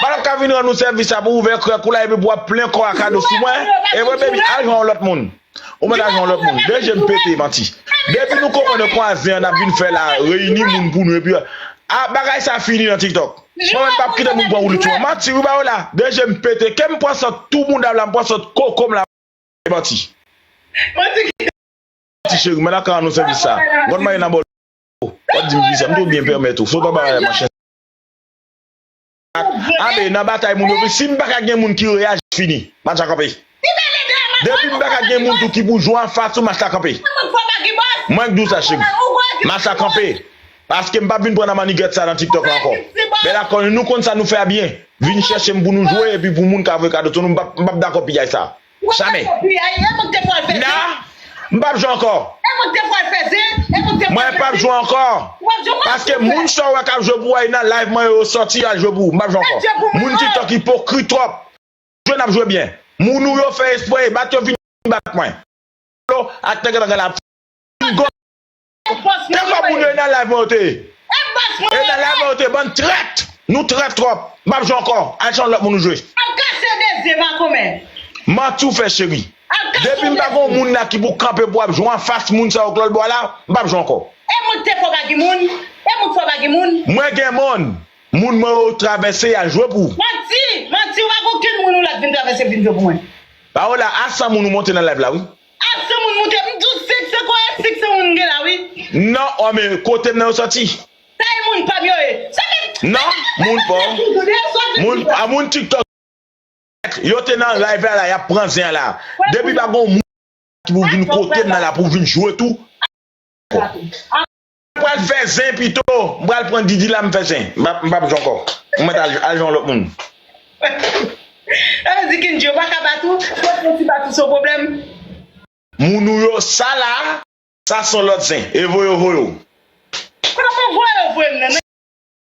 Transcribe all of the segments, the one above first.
Madam ka vin rann ou sèvis la pou ouvè krèk ou la epi pou wap plen kò a kado sou mwen evre baby al jwenn yon lòt moun ou mèt al jwenn yon lòt moun 2 jem pete manti depi nou konprann kwa zen an nap vin fè la reyini moun pou nou epi ah bagay sa fini nan tiktok mwen mèt pap kite moun pran woulit sou mwen manti wi bayo la 2 jem pete kem pran sant tou moudam la m pran sant kokom la manti cheri madam ka rann ou sèvis sa gòd marye nan bòl wap dim kisa m tou byen pèmèt ou sot anba rayè man chen sa. Abe nan batay moun yo vle sim paka gen moun ki reyaji m fini match la kanpe depim paka gen moun tou ki pou jwe anfas ou match la kanpe mwen k diw sa cheri match la kanpe paskem pap vin pran nan mannigèt sa nan tiktok la ankò bèl ak kòlin nou konn sa nou fè a byen vin chèchem pou nou jwe epi pou moun ka voye kado sou nou m pap dakò piyay sa. Wap fè Jamais. kopi a e mwen k te pwal fè zen. Nah m pap jwe ankò. E mwen k te pwal fè zen, e mwen k te pwal Mwen fè pap zen. jwe ankò. Ou pap jwe m an Paske silvouplè. moun sa w wè kap jwe pou w a e nan live mwen yo yo sòti al jwe pou ou. M pap jwe Fè ankò. zen pou mwen Moun oh. tiktok ipokrit twòp. Nap jwe nap jwe byen. Moun ou yo fè espre e bat yo vini bat mwen. Flo ak tank yo tank la ap fini. Moun gon. Te fè moun yo e nan live mwen yo te ye e nan live mwen yo te ye bann trèt nou trèt tròp map jwe ankò al chanje lòt moun ou jwe. Ap kase dezye makomè. Manti w fè cheri. Depim pa gen yon moun la ki pou kanpe pou ap jwe anfas moun sa yo k lòt bò a la, m pap jwe ankò. E moun k te fò pa gen moun, e moun k fò pa gen moun. Mwen gen moun, moun mwen yo travèse yal jwe pou. Manti, manti ou pa gen okenn moun ou la k vin travèse vin jwe pou mwen. Paola a san moun ou monte nan live la wi. Aksè moun moute m tou sik se kò e sik se moun gen la wi. Nan oh men kotem nan yo soti. Sa e moun pam yo ye. Sa menm. Nan moun pa w. Moun a moun tiktok yo. Yo te nan live la la yap pran zen an la. Depi pa gon moun ki pou vin kotem nan la pou vin jwe tou. Mwen pral fè zen pito. Mwen pral pran Didi la mwen fè zen. Mwen pap jwe ankò. Mwen mèt al jwe yon lòt moun. Sa vle di Kendjy yo pa ka bat ou? Si yo fon ti bat ou se yon pwoblèm? Moun ou yo sa la a? Sa son lòt zen. Evoye voye w. Kote voye voye m nan?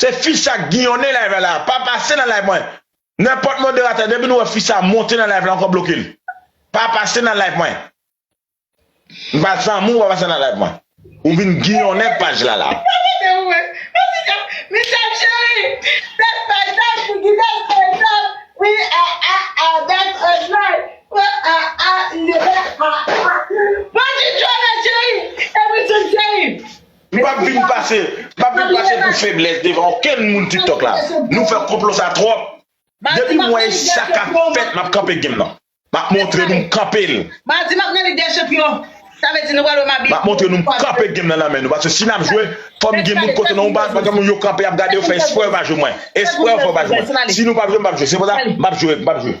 Se fi sa k ginyonnen live la la, pa pase nan live mwen. Nenpòt moderatè depi nou wè fi sa monte nan live la ankò bloke l. Pa pase nan live mwen. M pa zanmi w pa pase nan live mwen. Ou vin ginyonnen paj la la. Se ou menm. Michel cheri, bèl payizaj pou di bèl payizaj wi ah ah ah that's a life oh ah ah li bèl ah ah. Bon ti Joana cheri, epi sou cheri. M pap vin pase pou feblès devan okenn moun tiktok la nou fè konplo sa twòp depi m wè sa kap fèt map kanpe game nan map montre nou m kanpe l map montre nou m kanpe game nan nan men nou paske si nap jwe fòm gen moun kote nou pa gen moun yo kanpe ap gade yo fè espre yo pa jwe mwen espre yo fè yo pa jwe mwen si nou pap jwe m pap jwe se pou sa map jwe m pap jwe.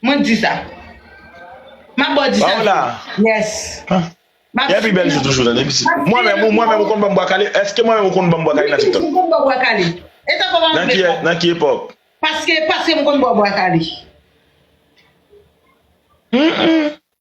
Mwen k di sa. Map baw di sa. Paola. Yes. Map Epi bèl jou toujou tande pitit. Mwen menm ou mwen menm ou konn banm bwa kale? Eske mwen menm ou konn banm bwa kale nan tiktok? Mwen konn baw bwa kale. E sa koman Nan ki nan ki epòk? Paske paske mwen konn baw bwa kale. Humm.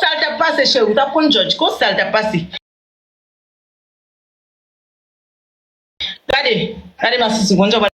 Sal tap pase cheri ou tap konn jòj kon sal tap pase. Gade Gade masisi ou konn jan wap.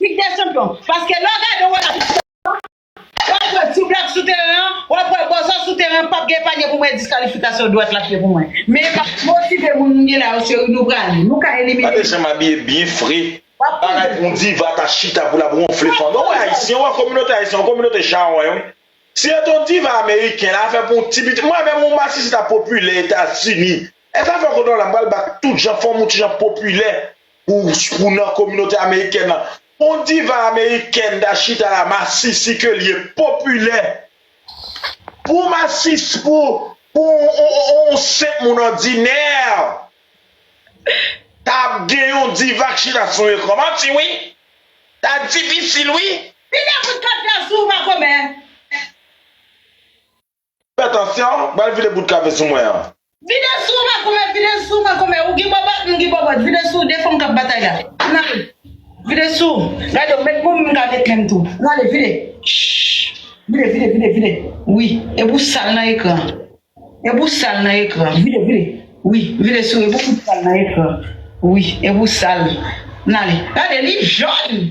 Lig dè chanpyon, paske lè w gade yon relat istwa w ap wè ti blak sou teren an, w ap wè bòzò sou teren an pap gen panye pou mwen e diskalifikasyon dwat l ap ye pou mwen. Men e pa motive moun m gen la yo cheri nou prale, nou ka elimine Gade janm abiye byen fre bagay pou yon diva ta chita pou lap wonfle fanmi ou wè ayisyen ou wè kominote ayisyen yon kominote chawony wi si yo te yon diva ameriken la afè pou yon ti pitit mwen menm yon masisi ta popilè etazini e zafè kodola m pral bat tout jan fanm ou ti jan popilè Pou nan kominote amerikèn lan, on diva amerikèn ta chita la masisi ke li ye popilè. Pou masisi, pou on senp moun òdinè ta ap gen yon diva k chita sou yon ekran manti wi. Ta difisil wi. Pile kout kat la sou w makomè. Fè atansyon, bal vide bout kafe sou mwen an. Vide sou w makomè, vide sou w makomè, ou gen bòbòt, m gen bòbòt, vide sou w, 2 fanm k ap batay la, an ale, vide sou w, gade w met moun m ka met menm tou, an ale, vide, shhh, vide, vide, vide, vide, wi, e pou w sal nan ekran, e pou w sal nan ekran, vide, vide, wi, vide sou w e pou w fout sal nan ekran, wi, e pou w sal, an ale, gade li jòn!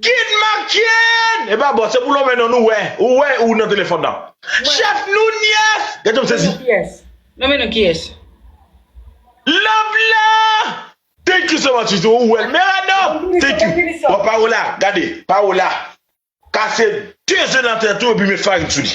Gid Makienn! Epa bon, se pou lonmen non nou wè, ou wè ou nan telefòn nan. Chèf Nunyès! Gadon m sezi. Lonmen non kiyès? Love la! Thank you so much Suzy, ou wèl men Rano! Thank you. Bon Paola, gade, Paola kase 2 ze nan tèt ou epi met farin sou li.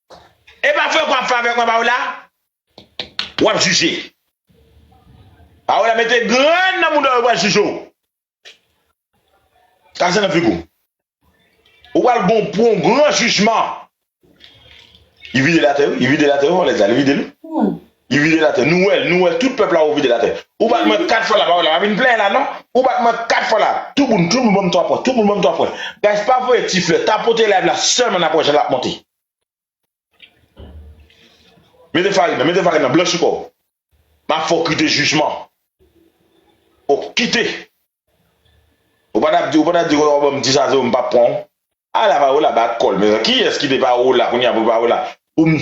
Epa frè pran favè kwen paola wap jije paola mete grenn nan moudaw yo pral jije w kraze nan figou ou pral gon pou yon gran jijman li videl atè wi li videl atè wi vòlèz la li videl wi. Li vide la tè. Nou wè l, nou wè tout pèp la ou vide la tè. Ou bat mwen 4 fwa la, pa wè la pa vin plenyen la non. Ou bat mwen 4 fwa la. Tout moun, tout moun banm 3 pwen, tout moun banm 3 pwen. Guys pa voye ti flè, tapote live la sèlman nap wè jan lap monte. Mete farin nan, mete farin nan, blanchi kò w. Map fè w kite jijman. Fò w kite. Ou pa tap di, ou pa tap di wap banm 10 a 0 m pap pran w. A la pa wè la bat kò l mezanmi. Kiyès ki te pa wè w la kounya pou pa wè la. Pou m.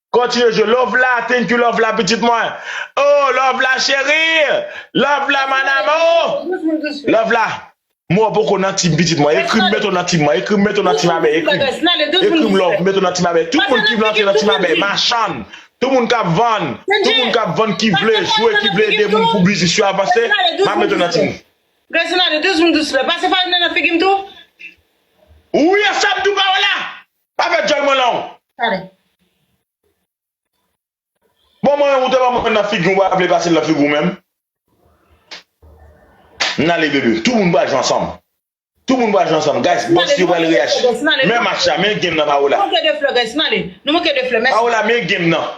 Kontinye jwe love la thank you love la pitit mwen oh love la cheri love la man amour love la mwen poko nan team pitit mwen ekrim meto nan team mwen ekrim meto nan team abey ekrim ekrim love meto nan team abey tout moun ki vle antre nan team abey machann tout moun kap vann tout moun kap vann ki vle jwe ki vle ede moun pou biznis yo avanse map meto nan team Reginaldo 12 moun 12 flè pase farinè nan figim tou. Wi asabdou pa wè la. Pa fè djòl mwen long. Tande. Bon mwen ou te ban mwen nan figi ou pa vle pasel nan figi ou menm. N ale bebe. Tout moun pral jwe ansanm. Tout moun pral jwe ansanm. Guys boss yo pral reyaji. Men match la men game nan Paola. Nou manke 2 flè guys. N ale. Nou manke 2 flè. Mèsi. Paola men game nan.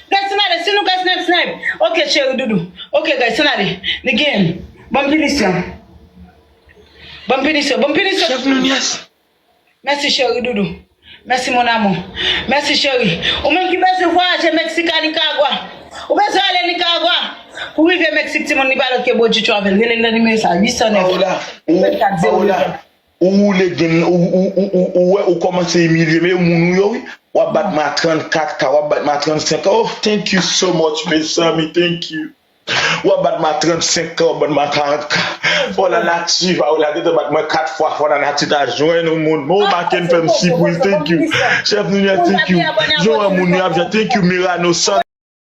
Guys ann ale sinou guys nèb snèb ok cheri doudou ok guys ann ale li gen bonm pinisyon bonm pinisyon bonm pinisyon chef Nunez mèsi cheri doudou mèsi mon amour mèsi cheri ou menm ki bezwen vwayaje Mexique a Nicaragua ou bezwen ale Nicaragua pou rive Mexique timoun li pa lòt ke Bojji travel relel nan nimewo sa 809 84 0 8 Paola Ou woule gen nan ou ou ou ou ou wè ou kòmanse imilye me yo moun ou yo wi wap bat ma 34 ka wap bat ma 35 ka oh thank you so much mezanmi thank you wap bat ma 35 ka wap bat ma 40 ka fò la nati va ou la gentan bat mwen 4 fwa fò la nati ta jwenn ou moun oh Ah, maken se fèm bon si pwis pwofesè, bon thank you minis. chef Ninie Ou thank you janti abòne jan wè abòne moun yo ap jan thank you Mirano San